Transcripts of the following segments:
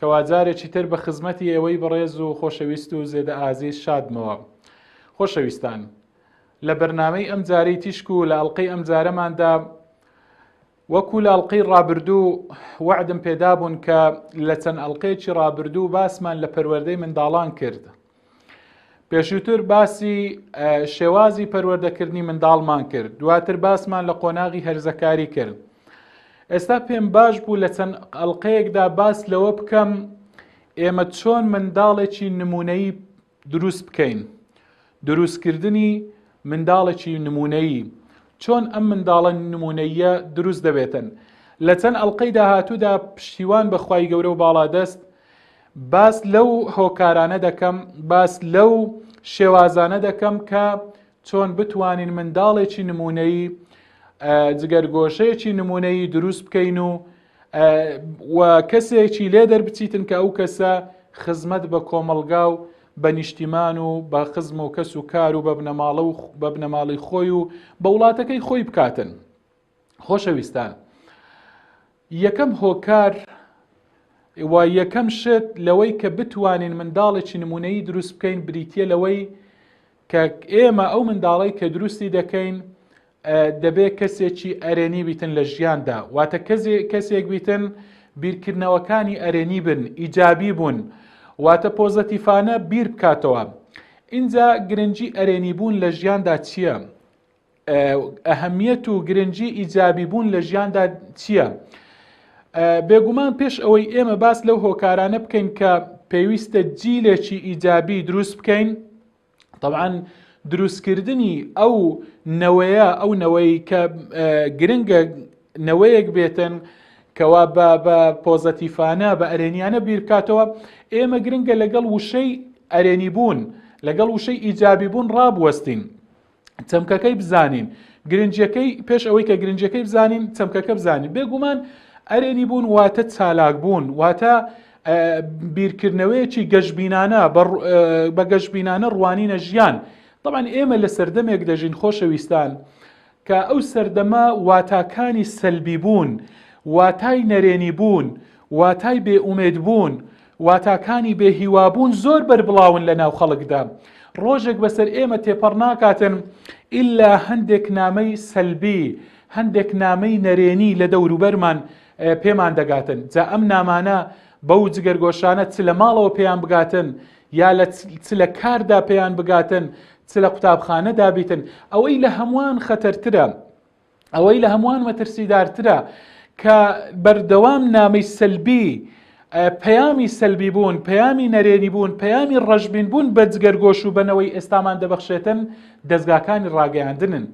کوا جارێکی تر بە خزمەتی ئێوەی بەڕێز و خۆشەویست و زێدە ئازیز شادمەوە. خۆشەویستان، لە بەرنامەی ئەمجارەی تیشک و لە ئەڵقەی ئەمجارەماندا، وەکو لە ئەڵقەی ڕابردوو وەعدم پێدابوون کە لە چەند ئەڵقەیەکی ڕابردوو باسمان لە پەروەردەی منداڵان کرد، پێشووتر باسی شێوازی پەروەردەکردنی منداڵمان کرد دواتر باسمان لە قۆناغی هەرزەکاری کرد ئێستا پێم باش بوو لە چەند ئەلقەیەکدا باس لەوە بکەم ئێمە چۆن منداڵێکی نمونەی دروست بکەین دروستکردنی منداڵێکی نمونەیی چۆن ئەم منداڵە نمونەیە دروست دەبێتن لە چەند ئەلقەی داهاتوودا پشتیوان بەخوای گەورە و باڵادەست باس لەو هۆکارانە دەکەم، باس لەو شێوازانە دەکەم کە چۆن بتوانین منداڵێکی نمونەیی جگەرگۆشەیەکی نمونەیی دروست بکەین و و کەسێکی لێ دەربچیتن کە ئەو کەسە خزمەت بە کۆمەڵگا و بە نیشتیمان و بە خزم و کەس و کار و بە بنەماڵە و بە بنەماڵی خۆی و بە وڵاتەکەی خۆی بکاتن. خۆشەویستان یەکەم هۆکار و یەکەم شت لەوەی کە بتوانین منداڵێکی نمونەی دروست بکەین بریتە لەوەی کە ئێمە ئەو منداڵی کە دروستی دەکەین دەبێت کەسێکی ئەرێنی بیتن لە ژیاندا واتە کەسێک بیتن بیرکردنەوەکانی ئەرێنی بن ئیجابی بوون واتە پۆزەتیفانە بیر بکاتەوە اینجا گرنگجی ئەرێنی بوون لە ژیاندا چییە؟ ئەهەمیەت و گرنگی ئیجابی بوون لە ژیاندا چییە؟ بێگومان پێش ئەوەی ئێمە باس لەو هۆکارانە بکەین کە پێویستە جیلێکی ئیجابی دروست بکەین طبعاً دروستکردنی ئەو نەوەیە ئەو نەوەی کە گرنگە نەوەیەک بێتن کەوا بە بە پۆزەتیفانە بە ئەرێنیانە بیرکاتەوە ئێمە گرنگە لەگەڵ وشەی ئەرێنی بوون لەگەڵ وشەی ئیجابی بوون ڕابوەستین چەمکەکەی بزانین گرنجەکەی پێش ئەوەی کە گرنجەکەی بزانین چەمکەکە بزانین بێگومان ئەرێنی بوون واتە چالاک بوون واتە بیرکردنەوەیەکی گەشببینانە بە گەشببینانە ڕوانینە ژیان بەڵان ئێمە لە سەردەمێک دەژین خۆشەویستان کە ئەو سەردەمە واتاکانی سەلبی بوون واتای نەرێنی بوون واتای بێئومێد بوون واتاکانی بێ هیوابوون زۆر بەربڵاون لە ناو خەڵکدا، ڕۆژێک بەسەر ئێمە تێپەڕ ناکاتن ئیلا هەندێک نامەی سەلبی، هەندێک نامەی نەرێنی لە دەوروبەرمان پێمان دەگاتن، جا ئەم نامانە بەو جگەرگۆشانە چ لە ماڵەوە پێیان بگاتن، یا لە چ لە کاردا پێیان بگاتن، چ لە قوتابخانەدا بیتن، ئەوەی لە هەمووان خەتەرترە، ئەوەی لە هەمووان مەترسیدارترە کە بەردەوام نامەی سەلبی پەیامی سەلبی بوون پەیامی نەرێنی بوون پەیامی ڕەشبین بوون بە جگەرگۆش و بەنەوەی ئێستامان دەبەخشێتن دەستگاکانی ڕاگەیاندنن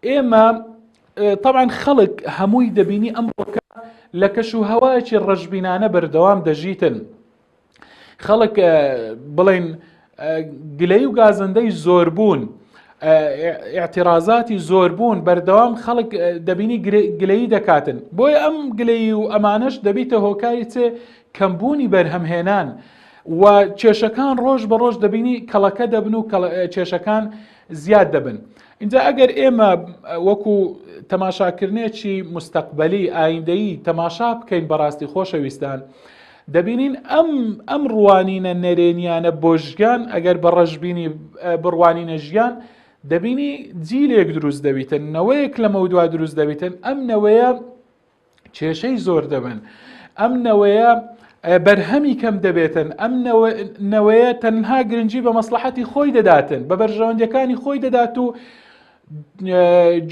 ئێمە طبعاً خەڵک هەمووی دەبینی ئەم ڕۆکە لە کەش و هەوایەکی ڕەشببینانە بەردەوام دەژیتن خەڵک بڵین گلەی و گازندەی زۆربوون اعتیرازاتی زۆربوون بەردەوام خەڵک دەبینی گلەی دەکاتن بۆیە ئەم گلەی و ئەمانەش دەبیتە هۆکاری چێ کەمبوونی بەرهەمهێنان و کێشەکان ڕۆژ بە ڕۆژ دەبینی کەڵەکە دەبن و کێشەکان زیاد دەبن. اینجا ئەگەر ئێمە وەکو تەماشاکردنێکی مستەقبلی ئایندەیی تەماشا بکەین بەڕاستی خۆشەویستان دەبینین ئەم ئەم ڕوانینە نەرێنیانە بۆ ژیان ئەگەر بە ڕەشببینی بڕوانینە ژیان دەبینی جیلێک دروست دەبیتن نەوەیەک لەمە دوا دروست دەبیتن ئەم نەوەیە کێشەی زۆر دەبن ئەم نەوەیە بەرهەمی کەم دەبێتن ئەم نەوەیە تەنها گرنگجی بە مەسلحەتی خۆی دەداتن بە بەرژەوەندەکانی خۆی دەدات و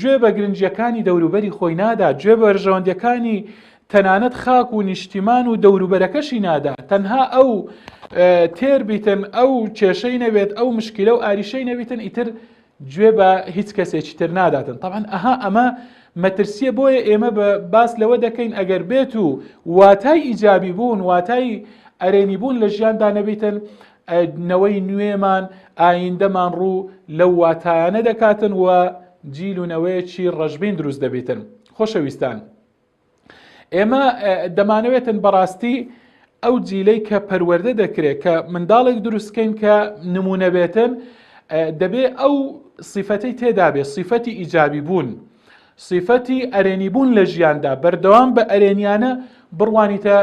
گوێ بە گرنگیەکانی دەوروبەری خۆی نادا گوێ بەرژەوەندەکانی تەنانەت خاک و نیشتیمان و دەوروبەرەکەشی نادا تەنها ئەو تێر بیتن ئەو کێشەی نەوێت ئەو مشکیلە و ئاریشەی نەویتن ئیتر گوێ بە هیچ کەسێکی تر ناداتن طبعا ئەها ئەمە مەترسیە بۆیە ئێمە بە باس لەوە دەکەین ئەگەر بێت و واتای ئیجابی بوون واتای ئەرێنی بوون لە ژیاندا نەبیتن نەوەی نوێمان ئایندەمان ڕوو لەو واتایانە دەکاتن و جیل و نەوەیەکی ڕەژبین دروست دەبیتن خۆشەویستان ئێمە دەمانەوێتن بەڕاستی ئەو جیلەی کە پەروەەردە دەکرێت کە منداڵێک دروستکەین کە نمونەبێتن دەبێ ئەو سیفەتی تێدابێت سیفەتی ئیجابی بوون سیفەتی ئەرێنی بوون لە ژیاندا بەردەوام بە ئەرێنیانە بڕوانیتە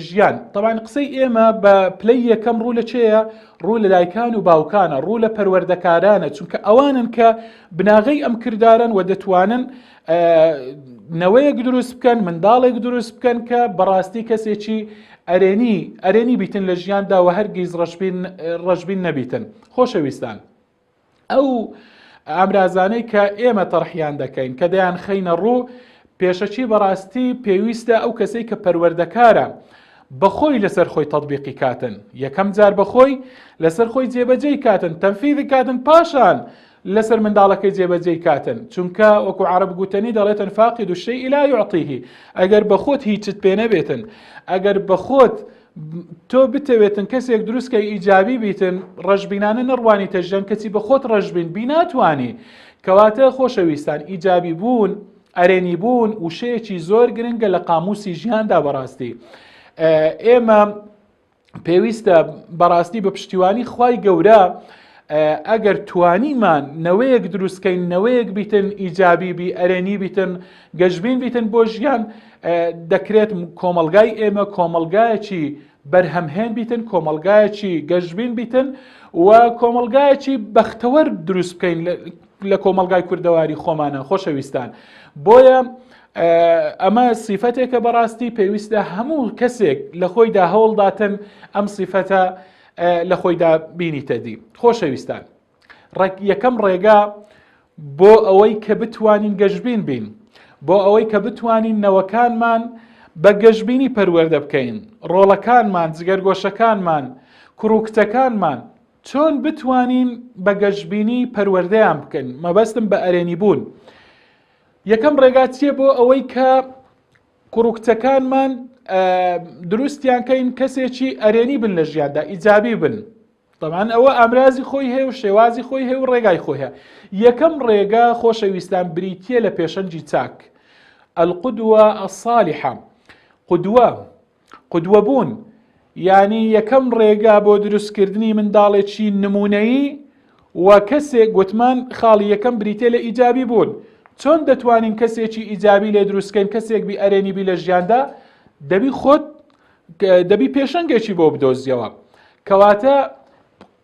ژیان تەوان قسەی ئێمە بە پلەی یەکەم ڕوو لە چێە ڕوو لە دایکان و باوکانە ڕوو لە پەروەردەکارانە چونکە ئەوانن کە بناغەی ئەم کردارن و دەتوانن نەوەیەک دروست بکەن منداڵێک دروست بکەن کە بەڕاستی کەسێکی ئەرێنی ئەرێنی بیتن لە ژیاندا و هەرگیز ڕژبین ڕژبین نەبیتن خۆشەویستان. ئەو ئامرازانەی کە ئێمە تەڕحیان دەکەین کە دەیان خەینە ڕوو پێشەکی بەڕاستی پێویستە ئەو کەسەی کە پەروەردەکارە بەخۆی لەسەر خۆی تطببیقی کاتن یەکەم جار بەخۆی لەسەر خۆی جێبەجێی کاتن تەنفیدی کاتن پاشان لەسەر منداڵەکەی جێبەجێی کاتن چونکە وەکو عرب گوتنی دەڵێتن فاقی دوشەی ئیلا یعطیه ئەگەر بەخۆت هیچت پێ نەبێتن ئەگەر بەخۆت تۆ بتەوێتن کەسێک دروستکە ئیجابی بیتن ڕژبینانە نەڕوانیتە ژەن کەچی بە خۆت ڕژبین بیناتوانی کەواتە خۆشەویستان ئیجابی بوون ئەرێنی بوون وشەیەکی زۆر گرنگە لە قاموسی ژیاندا بەڕاستی ئێمە پێویستە بەڕاستی بە پشتیوانی خی گەورە ئەگەر توانیمان نەوەیەک دروستکەین نەوەیەک بیتن ئیجابی بی ئەرێنی بیتن گەشبین بیتن بۆ ژیان دەکرێت کۆمەلگای ئێمە کۆمەلگایەکی بەرهەمهێن بیتن کۆمەلگایەکی گەشبین بیتن و کۆمەلگایەکی بەختەوەر دروست بکەین لە کۆمەلگای کوردەواری خۆمانە خۆشەویستان بۆیە ئەمە سیفەتێکە بەڕاستی پێویستە هەموو کەسێک لە خۆیدا هەوڵداتن ئەم سیفەتە لە خۆیدا بینیتە دی خۆشەویستان ڕێک یەکەم ڕێگا بۆ ئەوەی کە بتوانین گەشبین بین بۆ ئەوەی کە بتوانین نەوەکانمان بە گەشببینی پەروەەردە بکەین ڕۆڵەکانمان جگەرگۆشەکانمان کوڕوکتەکانمان چۆن بتوانین بە گەشببینی پەروەردەیان بکەن مەبەستم بە ئەرێنی بوون یەکەم ڕێگا چییە بۆ ئەوەی کە کوڕوکتەکانمان دروستیان کەین کەسێکی ئەرێنی بن لە ژیاندا ئیجابی بن تەبعەن ئەوە ئامرازی خۆی هەیە و شێوازی خۆی هەیە و ڕێگای خۆی هەیە یەکەم ڕێگە خۆشەویستان بریتە لە پێشەنجی چاک ئەلقدوە ئەسالیحە قدوە قدوە بوون ینی یەکەم ڕێگا بۆ دروستکردنی منداڵێکی نمونەیی و کەسێک گوتمان خاڵی یەکەم بریتە لە ئیجابی بوون چۆن دەتوانین کەسێکی ئیجابی لێ دروستکەین کەسێک بی ئەرێنی بی لە ژیاندا دەبی خۆت دەبی پێشەنگێکی بۆ بدۆزیەوە کەواتە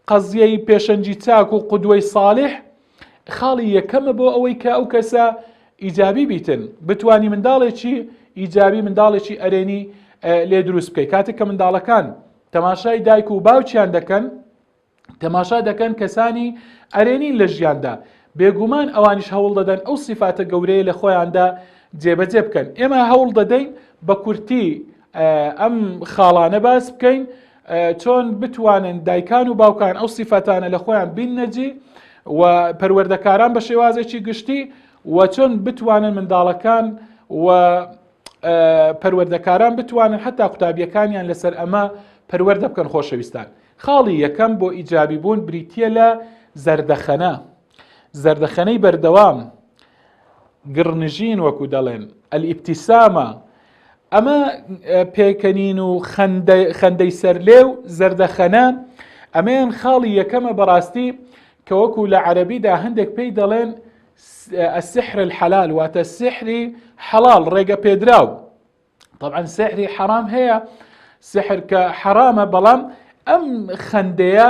قەزیەی پێشەنجی چاک و قودوەی ساڵح خاڵی یەکەمە بۆ ئەوەی کە ئەو کەسە ئیجابی بیتن بتانی منداڵێکی ئیجابی منداڵێکی ئەرێنی لێ دروست بکەیت کاتێک کە منداڵەکان تەماشای دایک و باوکیان دەکەن تەماشا دەکەن کەسانی ئەرێنین لە ژیاندا بێگومان ئەوانیش هەوڵ دەدەن ئەو سیفاتە گەورەیە لە خۆیاندا جێبەجێ بکەن ئێمە هەوڵ دەدەین بە کورتی ئەم خاڵانە باس بکەین چۆن بتوانن دایکان و باوکان ئەو سیفەتانە لە خۆیان بین نەجی و پەروەردەکاران بە شێوازێکی گشتی و چۆن بتوانن منداڵەکان و پەروەردەکاران بتوانن حتا قوتابیەکانیان لەسەر ئەمە پەروەەردە بکەن خۆشەویستان خاڵی یەکەم بۆ ئیجابی بوون بریتییە لە زەردەخەنە زەردەخەنەی بەردەوام گڕنژین وەکو دەڵێن ئەلیبتیسامە ئەمە پێکەنین و خەندەی سەرلێ و زەردەخەنە ئەمەیان خاڵی یەکەمە بەڕاستی کە وەکو لە عەربیدا هەندێک پێی دەڵێن السحر الحلال واتە سحری حەڵال ڕێگە پێدراو طبعا سحری حەرام هەیە سحر کە حەرامە بەڵام ئەم خەندەیە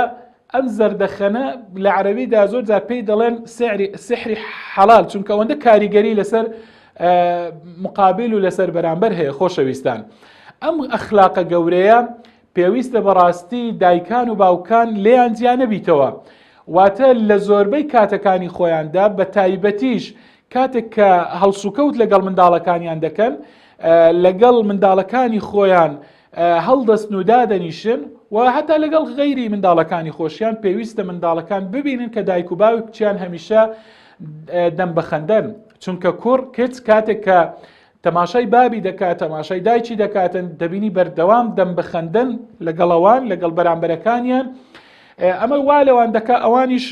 ئەم زەردەخەنە لە عربیدا زۆر جا پێی دەڵێن سحری حەڵال چونکە ئەوەندە کاریگەری لەسەر مقابل و لەسەر بەرامبەر هەیە خۆشەویستان ئەم ئەخلاقە گەورەیە پێویستە بەڕاستی دایکان و باوکان لێیان جیا نەبیتەوە، واتە لە زۆربەی کاتەکانی خۆیاندا بە تایبەتیش کاتێک کە هەڵسوکەوت لەگەڵ منداڵەکانیان دەکەن لەگەڵ منداڵەکانی خۆیان هەڵدەستن و دادەنیشن و هەتا لەگەڵ غەیری منداڵەکانی خۆشیان پێویستە منداڵەکان ببینن کە دایک و باوکیان هەمیشە دەم بەخەندەن چونکە کوڕ کچ کاتێک کە تەماشای بابی دەکات تەماشای دایکی دەکاتن دەبینی بەردەوام دەم بخەندن لەگەڵەوان لەگەڵ بەرامبەرەکانیان ئەمە وا لەوان دەکە ئەوانیش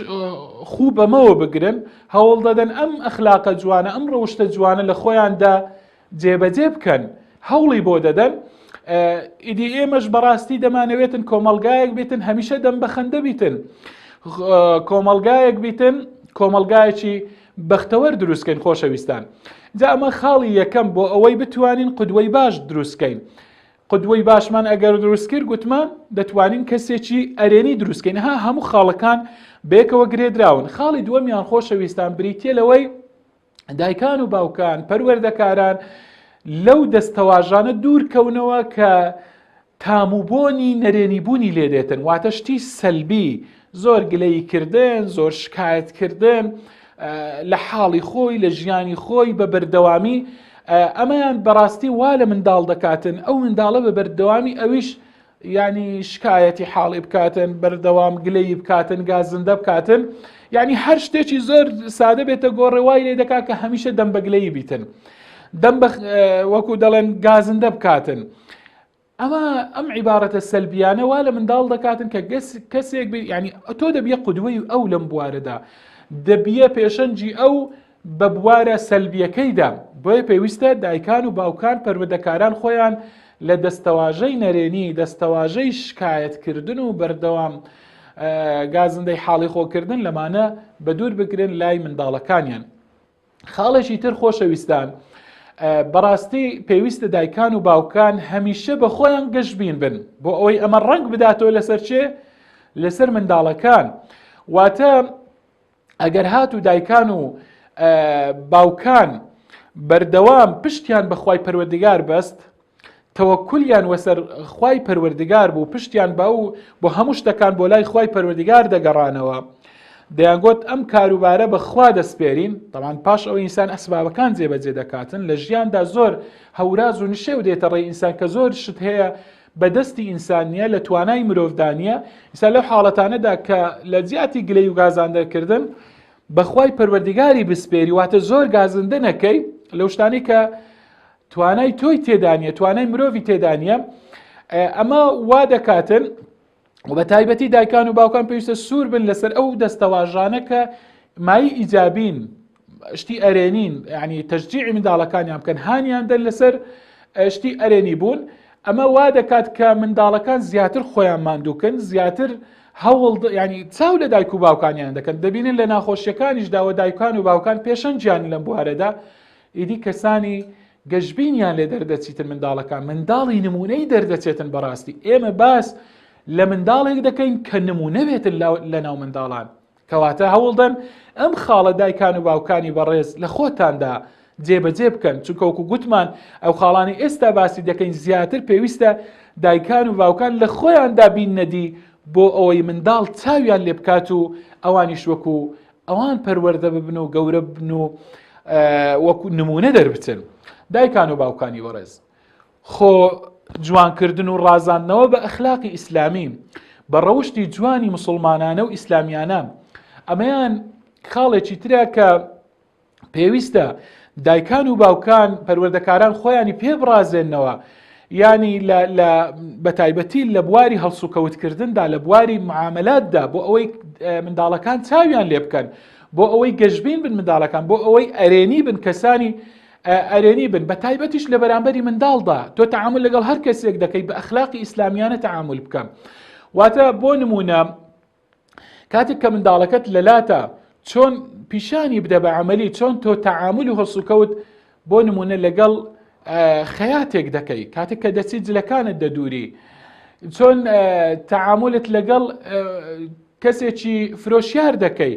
خوو بەمەوە بگرن هەوڵ دەدەن ئەم ئەخلاقە جوانە ئەم ڕەوشتە جوانە لە خۆیاندا جێبەجێ بکەن هەوڵی بۆ دەدەن ئیدی ئێمەش بەڕاستی دەمانەوێتن کۆمەلگایەک بێتن هەمیشە دەم بەخەندە بیتن کۆمەلگایەک بیتن کۆمەلگایەکی بەختەوەر دروستکەین خۆشەویستان جا ئەمە خاڵی یەکەم بۆ ئەوەی بتوانین قدوەی باش دروستکەین قدوەی باشمان ئەگەر دروستکرد گوتمان دەتوانین کەسێکی ئەرێنی دروستکەین ها هەموو خاڵەکان بێکەوە گرێدراون خاڵی دووەمیان خۆشەویستان بریتە لەوەی دایکان و باوکان پەروەردەکاران لەو دەستەواژانە دوورکەونەوە کە تام و بۆنی نەرێنی بوونی لێ دێتن واتە شتی سەلبی زۆر گلەیی کردن زۆر شکایەت کردن لە حاڵی خۆی لە ژیانی خۆی بە بەردەوامی ئەمەیان بەڕاستی وا لە منداڵ دەکاتن ئەو منداڵە بە بەردەوامی ئەویش ینی شکایەتی حاڵی بکاتن بەردەوام گلەی بکاتن گازندە بکاتن ینی هەر شتێکی زۆر سادە بێتە گۆڕێوای لێ دەکات کە هەمیشە دەم بەگلەی بیتن دەم وەکو دەڵێن گازندە بکاتن. ئەمە ئەم عیبارەتە سەلبیانە وا لە منداڵ دەکاتن کە گەس کەسێک بێ ینی تۆ دەبیە قودوەی ئەو لەم بوارەدا دەبیە پێشەنجی ئەو بە بوارە سەلبیەکەیدا بۆیە پێویستە دایکان و باوکان پەروەدەکاران خۆیان لە دەستەواژەی نەرێنی دەستەواژەی شکایەتکردن و بەردەوام گازندەی حاڵی خۆکردن لەمانە بە دوور بگرن لای منداڵەکانیان خاڵێکی تر خۆشەویستان بەڕاستی پێویستە دایکان و باوکان هەمیشە بە خۆیان گەشببین بن بۆ ئەوەی ئەمە ڕنگ بداتەوە لەسەر چێ لەسەر منداڵەکان واتە ئەگەر هات و دایکان و باوکان بەردەوام پشتیان بەخوای پەروەردگار بەست تەوەکولیان وەسەر خوای پەروەردگار بوو پشتیان بە و بۆ هەموو شتەکان بۆ لای خوای پەروەردگار دەگەڕانەوە دەیانگوت ئەم کاروبارە بەخوا دەسپێرین دەمان پاش ئەو ئینسان ئەسبابەکان جێبەجێ دەکاتن لە ژیاندا زۆر هەوراز و نشێو دێتە ڕێ ئینسان کە زۆر شت هەیە بەدەستی ئینسانیە لە توانای مرۆڤدانە ئیسا لەو حاڵەتانەدا کە لە جیاتی گلەی و گازاندەکردن بەخوای پەروەردیگاری بسپێری واتە زۆر گازندە نەکەی لەو شتانی کە توانای تۆی تێدا نیە توانای مرۆڤی تێدا نیە ئەمە وا دەکاتن و بە تایبەتی دایکان و باوکان پێویستە سوور بن لەسەر ئەو دەستەواژانە کە مای ئیجابین شتی ئەرێنین ینی تەجدیعی منداڵەکانیان بکەن هانیان دەن لەسەر شتی ئەرێنی بوون ئەمە وا دەکات کە منداڵەکان زیاتر خۆیان ماندووکن زیاتر هەوڵ ینی چاو لە دایک و باوکانیان دەکەن دەبینن لە ناخۆشیەکانیش داوە دایکان و باوکان پێشەنجیان لەم بوارەدا ئیدی کەسانی گەشبینیان لێ دەردەچیتن منداڵەکان منداڵی نمونەی دەردەچێتن بەڕاستی ئێمە باس لە منداڵێک دەکەین کە نمونەوێتن لە ناو منداڵان کەواتە هەوڵدەن ئەم خاڵە دایکان و باوکانی بەڕێز لە خۆتاندا جێبەجێ بکەن چونکەوەکو گوتمان ئەو خاڵانی ئێستا باسی دەکەین زیاتر پێویستە دایکان و باوکان لە خۆیاندا بین نەدی بۆ ئەوەی منداڵ چاویان لێ بکات و ئەوانیش وەکو ئەوان پەروەەردە ببن و گەورە بن و وەکو نمونە دەربچن دایکان و باوکانی وەڕێز خۆ جوانکردن و ڕازاندنەوە بە ئەخلاقی ئیسلامی بە ڕەوشی جوانی مسلمانانە و ئیسلامیانە ئەمەیان خاڵێکی ترە کە پێویستە دایکان و باوکان پەروەردەکاران خۆیانی پێ بڕازێنەوە ینی بە تایبەتی لە بواری هەڵسوکەوتکردندا لە بواری معاملاتدا بۆ ئەوەی منداڵەکان چاویان لێ بکەن بۆ ئەوەی گەشبین بن منداڵەکان بۆ ئەوەی ئەرێنی بن کەسانی ئەرێنی بن بە تایبەتیش لە بەرامبەری منداڵدا تۆ تعامل لەگەڵ هەر کەسێک دەکەیت بە ئەخلاقی ئیسلامیانە تعامل بکەم واتە بۆ نمونە کاتێک کە منداڵەکەت لەلاتە چۆن پیشانی بدە بە عملی چۆن تۆ تەعامل و هەڵسوکەوت بۆ نمونە لەگەڵ خەیاتێک دەکەی کاتێک کە دەچی جلەکانت دەدووری چۆن تەعاملت لەگەڵ کەسێکی فرۆشیار دەکەی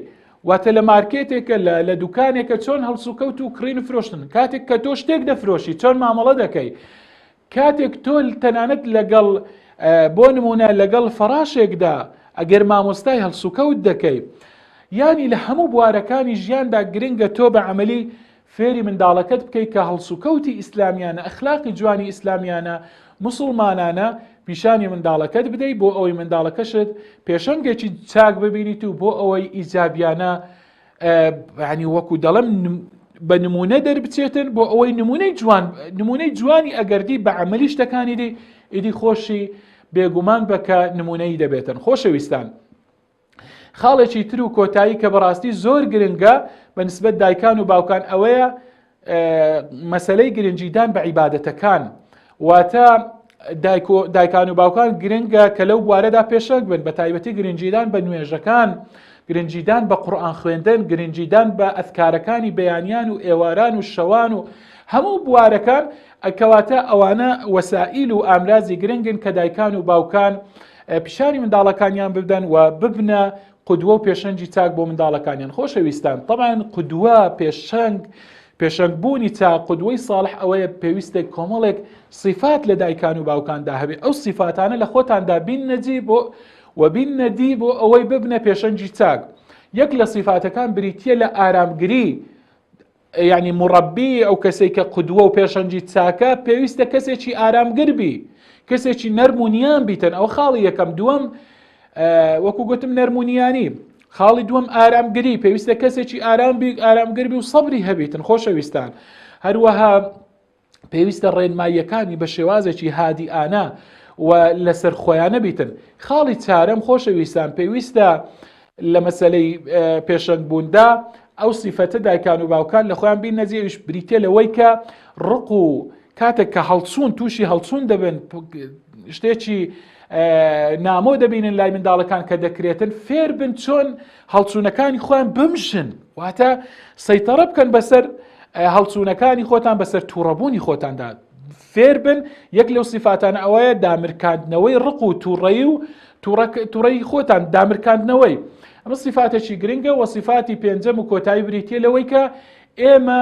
واتە لە مارکێتێکە لە لە دوکانێکە چۆن هەڵسوکەوت و کڕین فرۆشتن کاتێک کە تۆ شتێک دەفرۆشی چۆن مامەڵە دەکەی کاتێک تۆ تەنانەت لەگەڵ بۆ نمونە لەگەڵ فەڕاشێکدا ئەگەر مامۆستای هەڵسوکەوت دەکەی ینی لە هەموو بوارەکانی ژیاندا گرنگە تۆ بە عملی فێری منداڵەکەت بکەیت کە هەڵسوکەوتی ئیسلامیانە ئەخلاقی جوانی ئیسلامیانە مسلمانانە پیشانی منداڵەکەت بدەیت بۆ ئەوەی منداڵەکەشت پێشەنگێکی چاک ببینیت و بۆ ئەوەی ئیجابیانە ینی وەکو دەڵم بە نمونە دەربچێتن بۆ ئەوەی نمونەی جوان نمونەی جوانی ئەگەردی بە عملی شتەکانی دی ئیدی خۆشی بێگومان بەکە نمونەی دەبێتن خۆشەویستان. خاڵێکی تر و کۆتایی کە بەڕاستی زۆر گرنگە بە نسبەت دایکان و باوکان ئەوەیە مەسەلەی گرنگیدان بە عیباەتەکان واتە دایکان و باوکان گرنگە کە لەو بوارەدا پێشەک بن بە تایبەتی گرنگیدان بە نوێژەکان گرنگیدان بە قورآان خوێندن گرنگیدان بە ئەفکارەکانی بەیانیان و ئێواران و شەوان و هەموو بوارەکان ئەکەواتە ئەوانە وەسائیل و ئامرازی گرنگن کە دایکان و باوکان پیشانی منداڵەکانیان بدەن و ببنە قدوە و پێشەنگی چاک بۆ منداڵەکانیان خۆشەویستان طبعاان قدوە پێشەنگ پێشەنگ بوونی چا قدوەی ساڵح ئەوەیە پێویستێک کۆمەڵێک سیفات لە دایکان و باوکاندا هەبێ ئەو سیفاتانە لە خۆتاندا بین نەجی بۆ وبین نەدی بۆ ئەوەی ببنە پێشەنگی چاک یەک لە سیفاتەکان بریتە لە ئارامگری یانی مڕەبی ئەو کەسێک کە قودوە و پێشەنجی چاکە پێویستە کەسێکی ئارامگربی کەسێکی نەرمونیان بیتن ئەو خاڵی یەکەم دووەم وەکو گوتم نەرمونیانی خاڵی دووەم ئارامگری پێویستە کەسێکی ئارام بی ئارامگربی و سەبری هەبیتن خۆشەویستان هەروەها پێویستە ڕێنماییەکانی بە شێوازێکی هادیئانە و لەسەر خۆیانە بیتن خاڵی چارەم خۆشەویستان پێویستە لە مەسلەی پێشنگ بووندا ئەو سیفەتە دایکان و باوکان لە خۆیان بین نەجێویش بریتە لەوەی کە ڕق و کاتێک کە هەڵچوون تووشی هەڵچوون دەبن شتێکی نامۆ دەبینن لای منداڵەکان کە دەکرێتن فێر بن چۆن هەڵچوونەکانی خۆیان بمژن واتە سەیتەڕە بکەن بەسەر هەڵچوونەکانی خۆتان بەسەر تووڕەبوونی خۆتاندا فێربن یەک لەو سیفاتان ئەوەیە دامرکاندنەوەی ڕق و تووڕەی و تووڕەی خۆتان دامرکاندنەوەی ئەمە سیفاتێکی گرنگە وە سیفاتی پێنجەم و کۆتایی بریتە لەوەی کە ئێمە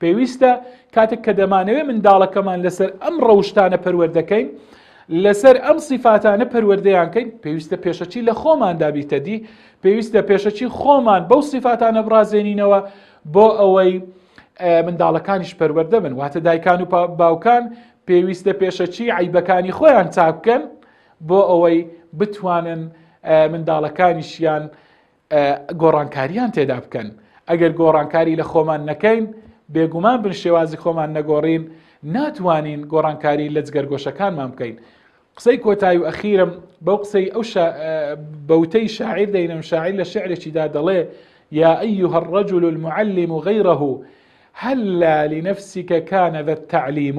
پێویستە کاتێک کە دەمانەوێت منداڵەکەمان لەسەر ئەم ڕەوشتانە پەروەردەکەین لەسەر ئەم سیفاتانە پەروەردەیانکەین پێویستە پێشەچی لە خۆمان دابیتەدی پێویستە پێشەچی خۆمان بەو سیفاتانە بڕازێنینەوە بۆ ئەوەی منداڵەکانیش پەروەەردە بن واتە دایکان و باوکان پێویستە پێشەچی عیبەکانی خۆیان چاککەن بۆ ئەوەی بتوانن منداڵەکانیشیان گۆڕانکارییان تێدا بکەن ئەگەر گۆڕانکاری لە خۆمان نەکەین بێگومان بن شێوازی خۆمان نەگۆڕین ناتوانین گۆڕانکاری لە جگەرگۆشەکانمان بکەین قسەی کۆتای و ئەخیرم بەو قسەی ئەو بەوتەی شاعیر دەینم شاعیر لە شعرێکیدا دەڵێ یا ئەیها الرجل المعلم غیره هل لنفسك كان ذا التعليم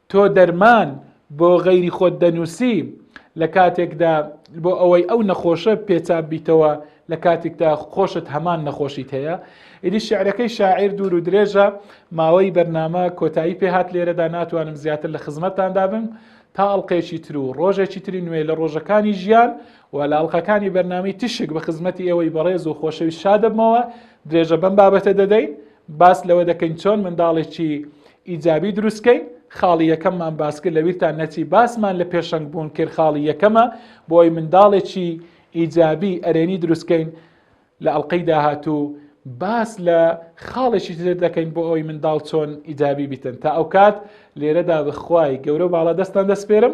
تۆ دەرمان بۆ غەیری خۆت دەنووسی لە کاتێکدا بۆ ئەوەی ئەو نەخۆشە پێچاب بیتەوە لە کاتێکدا خۆشت هەمان نەخۆشیت هەیە ئیدی شعرەکەی شاعیر دوور و درێژە ماوەی بەرنامە کۆتایی پێهات لێرەدا ناتوانم زیاتر لە خزمەتتاندا بم تا ئەڵلقێکی تر و ڕۆژێکی تری نوێ لە ڕۆژەکانی ژیان و لە ئەڵلقەکانی بەرنامی تیشک بە خزمەتی ئێوەی بەڕێز و خۆشەوی شادەبمەوە درێژە بەم بابەتە دەدەین باس لەوە دەکەین چۆن منداڵێکی ئیجابی دروستکەین خاڵی یەکەممان باسکرد لە ویرتان نەچی باسمان لە پێشەنگ بوون کرد خاڵی یەکەمە بۆی منداڵێکی ئیجابی ئەرێنی دروستکەین لە ئەڵلقەی داهاتوو باس لە خاڵێکی تر دەکەین بۆ ئەوی منداڵ چۆن ئیجابی بیتن تا ئەو کات لێرەدا بخوای گەورە باڵا دەستان دەسپێرم